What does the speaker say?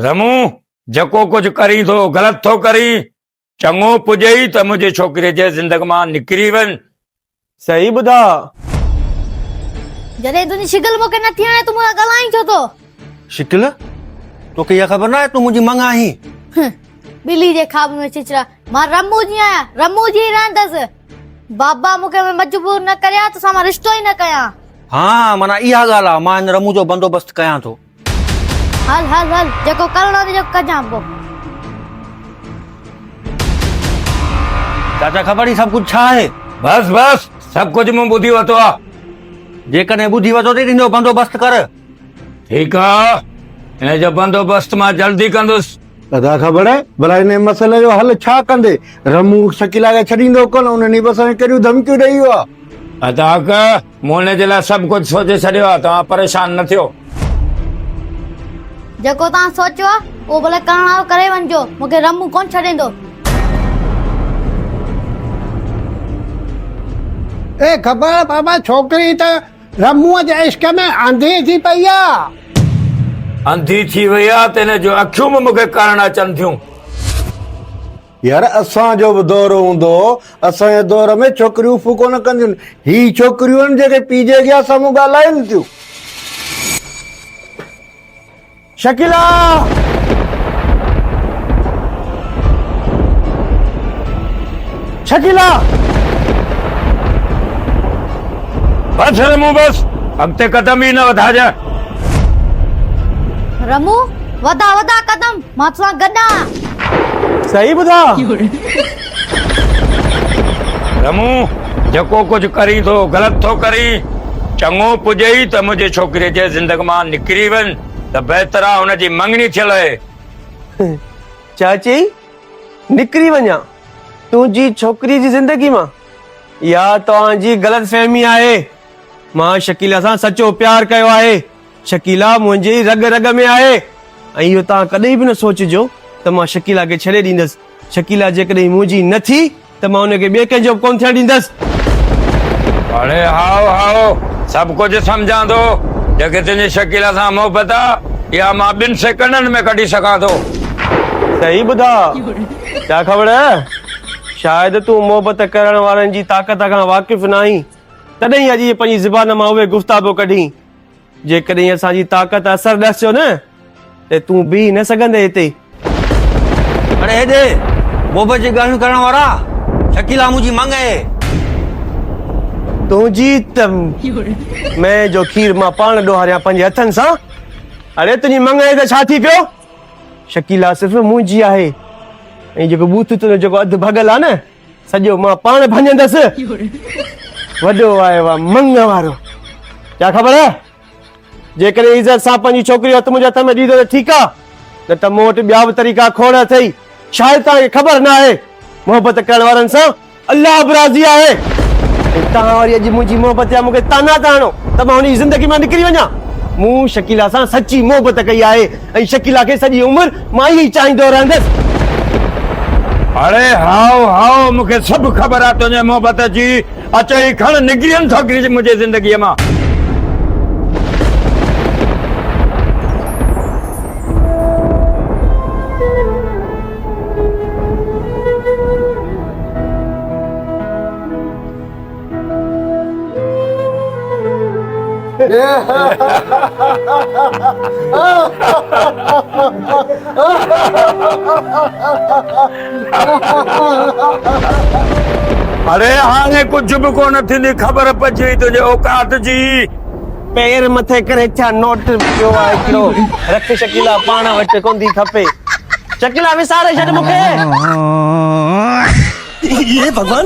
رمون، جيڪو ڪجهه ڪرين ٿو، غلط ٿو ڪرين. چڱو پڄئي ته منهنجي ڇوڪريء جي زندگي مان نڪري وڃ. صحيح ٻڌاء. جڏهن تنهنجي شڪل مون کي نه ٿي وڻي، تون مون سان ڳالهائين ڇو ٿو؟ شڪل؟ توکي اها خبر ناهي تون منهنجي مڱ آهين. هه، ٻلي جي خواب ۾ ڇچرا. مان رمون جي آهيان، رمون جي ئي رهندس. بابا مون کي مجبور نه ڪريان، توسان مان رشتو ئي نه ڪيان. ها، معنيٰ اها ڳالهه آهي، مان هن رمون جو بندوبست ڪيان ٿو. هل هل هل جيڪو ڪرڻو ته جيڪو ڪجان پو چاچا خبر هي سڀ ڪجهه ڇا آهي بس بس سڀ ڪجهه مون ٻڌي ورتو آ جيڪڏهن ٻڌي ورتو ته تنهنجو بندوبست ڪر ٺيڪ آ هن جو بندوبست مان جلدي ڪندس ادا خبر بلا هن مسئلي جو حل ڇا ڪندي رمو شڪيلا کي ڇڏيندو ڪون انهن بس کي ڪهڙيون ڌمڪيون ڏيئي ويو آ ادا مون ان جي لاء سڀ ڪجهه سوچي ڇڏيو آهي، توهان پريشان نه ٿيو. جيڪو توهان سوچيو آهي، اهو ڀلي ڪرڻ وارو ڪري وڃجو، مون کي رمون ڪونه ڇڏيندو. اي خبر بابا ڇوڪري ته رمون جي عشق ۾ انڌي ٿي پئي آهي. انڌي ٿي وئي آهي ته ان جون اکيون به مون کي ڪرڻ اچن ٿيون. يار اسان جو به دور هوندو هو اسان جي دور ۾ ڇوڪريون اف ڪونه ڪنديون هي ڇوڪريون آهن جيڪي پي جي اڳيان سامهون ڳالهائين ٿيون شڪيلا شڪيلا بس رمو بس اڳتي قدم ئي نه وڌاجانء رمو وڌا وڌا قدم مان توسان گڏ آهيان. صحيح ٻڌا؟ رمو، جيڪو ڪجهه ڪرين ٿو، غلط ٿو ڪرين. چڱو پڄئي ته منهنجي ڇوڪريء جي زندگي مان نڪري وڃ ته بهتر آهي، هن جي مڱڻي ٿيل اهي. ڇا چئي؟ نڪري وڃان تنهنجي ڇوڪريء جي زندگي مان؟ اها توهان جي غلط فهمي آهي. مان شڪيلا سان سچو پيار ڪيو آهي. شڪيلا منهنجي رڳ رڳ ۾ آهي ۽ اهو توهان ڪڏهن به نه سوچجو ته مان شڪيلا کي ڇڏي ڏيندس. شڪيلا جيڪڏهن منهنجي نه ٿي ته مان ان کي ٻئي ڪنهن جو به ڪونه ٿيڻ ڏيندس. اڙي هائو هائو سڀ ڪجهه سمجهان ٿو. جيڪي تنهنجي شڪيلا سان محبت آ اها مان ٻن سيڪنڊن ۾ ڪڍي سگهان ٿو. صحيح ٻڌاء ڇا کبڙ شايد تون محبت ڪرڻ وارن جي طاقت کان واقف ناهين تڏهن ئي اڄ جي پنهنجي زبان مان اهي گفتابو ڪڍين جيڪڏهن اسان جي طاقت اثر ڏس جو نه ته تون بيهي نه سگهندي هتي. اڙي هيڏي بوبه جي ڳالهيون ڪرڻ وارا شڪيلا منهنجي منگ اهي. تنهنجي ته مئي جو کير مان پاڻ ڏوهاريان پنهنجي هٿن سان. اڙي تنهنجي منگ اهي ته ڇا ٿي پيو؟ شڪيلا صرف منهنجي آهي ۽ جيڪو بوٿ تنهنجو جيڪو اڌ ڀڳل آهي نه سڄو مان پاڻ ڀڃندس وڏو آيو آ منگ وارو ڪيا خبر جيڪڏهن عزت سان پنهنجي ڇوڪري هٿ منهنجي هٿ ۾ ڏيندو ته ٺيڪ آ نه ته مون وٽ ٻيا به طريقا کوڙ اٿئي شايد توهان کي خبر نه آهي محبت ڪرڻ وارن سان الله به راضي آهي توهان وري اڄ منهنجي محبت جا مونکي طعنا ٿا هڻو ته مان هن جي زندگي مان نڪري وڃان مون شڪيلا سان سچي محبت ڪئي آهي ۽ شڪيلا کي سڄي عمر مان ئي چاهيندو رهندس. اڙي هائو هائو مون کي سڀ خبر آ تنهنجي محبت جي اچ هي کڻ نگرين ڇوڪري کي منهنجي زندگي مان. اڙي هاڻي ڪجهه به ڪونه ٿيندي خبر پئجي وئي تنهنجي اوقات جي پير مٿي ڪري ڇا نوٽ پيو آهي هڪڙو رک شڪيلا پاڻ وٽ ڪوندي کپي شڪيلا وساري ڇڏ مون کي اي ڀڳوان